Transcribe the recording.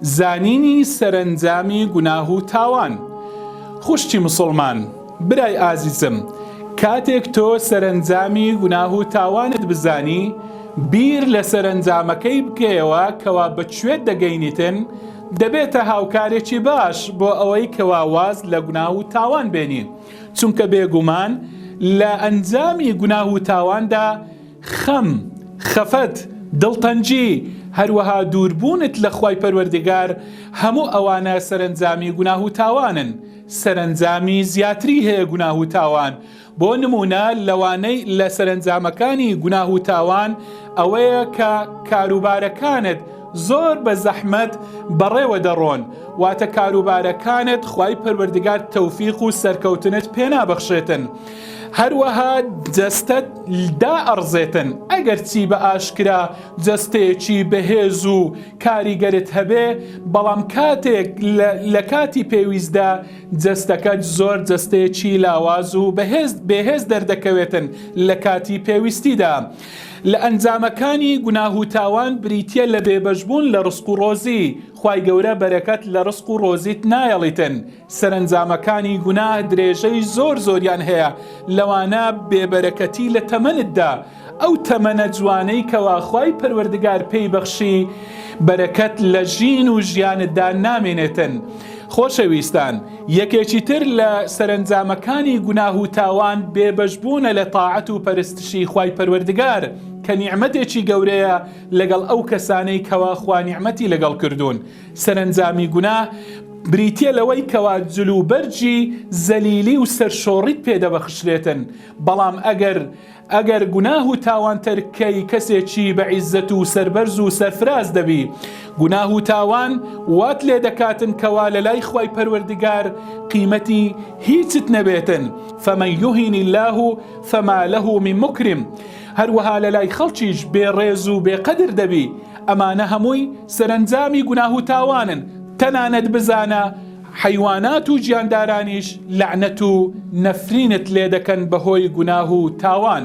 زانینی سەرەنجامی گوناه و تاوان. خوشکی مسوڵمان، برای ئازیزم، کاتێک تۆ سەرەنجامی گوناه و تاوانت بزانی، بیر لە سەرەنجامەکەی بکەیەوە کەوا بە کوێت دەگەینیتن، دەبێتە هاوکارێکی باش بۆ ئەوەی کەوا واز لە گوناه و تاوان بێنی، چونکە بێگومان لە ئەنجامی گوناه و تاواندا، خەم، خەفەت، دڵتەنگی، هەروەها دووربوونت لە خوای پەروەردگار، هەموو ئەوانە سەرەنجامی گوناه و تاوانن، سەرەنجامی زیاتری هەیە گوناه و تاوان، بۆ نموونە لەوانەی لە سەرەنجامەکانی گوناه و تاوان ئەوەیە کە کاروبارەکانت زۆر بە زەحمەت بەڕێوە دەڕۆن، واتە کاروبارەکانت خوای پەروەردگار تەوفیق و سەرکەوتنت پێنابەخشێتن، هەروەها جەستەت دائەڕزێتن، ئەگەرچی بە ئاشکرا جەستەیەکی بەهێز و کاریگەرت هەبێ، بەڵام کاتێک لە کاتی پێویستدا جەستەکەت زۆر جەستەیەکی لاواز و بێهێز دەردەکەوێتن لە کاتی پێویستیدا. لە ئەنجامەکانی گوناه و تاوان بریتیە لە بێبەش بوون لە ڕزق و ڕۆزی، خوای گەورە بەرەکەت لە ڕزق و ڕۆزیت نایەڵیتن، سەرەنجامەکانی گوناه درێژەی زۆر زۆریان هەیە، لەوانە بێبەرەکەتی لە تەمەنتدا، ئەو تەمەنە جوانەی کەوا خوای پەروەردگار پێی بەخشی بەرەکەت لە ژین و ژیانتدا نامێنێتن. خۆشەویستان یەکێکی تر لە سەرەنجامەکانی گوناه و تاوان بێبەشبوونە لە تاعەت و پەرستشی خوای پەروەردگار کە نیعمەتێکی گەورەیە لەگەڵ ئەو کەسانەی کەوا خوا نیعمەتی لەگەڵ کردوون، سەرەنجامی گوناه بریتیە لەوەی کەوا جل و بەرگی زەلیلی و سەرشۆڕیت پێ دەبەخشرێتن، بەڵام ئەگەر ئەگەر گوناه و تاوان تەرککەی کەسێکی بە عیزەت و سەربەرز و سەرفراز دەبی، گوناه و تاوان وات لێ دەکاتن کەوا لەلای خوای پەروەردگار قیمەتی هیچت نەبێتن، فمن یهین اللە فما له من مکرم، هەروەها لە لای خەڵکیش بێ ڕێز و بێ قەدر دەبی، ئەمانە هەمووی سەرەنجامی گوناه و تاوانن، تەنانەت بزانە حەیوانات و گیاندارانیش لەعنەت و نەفرینت لێ دەکەن بە هۆی گوناه و تاوان.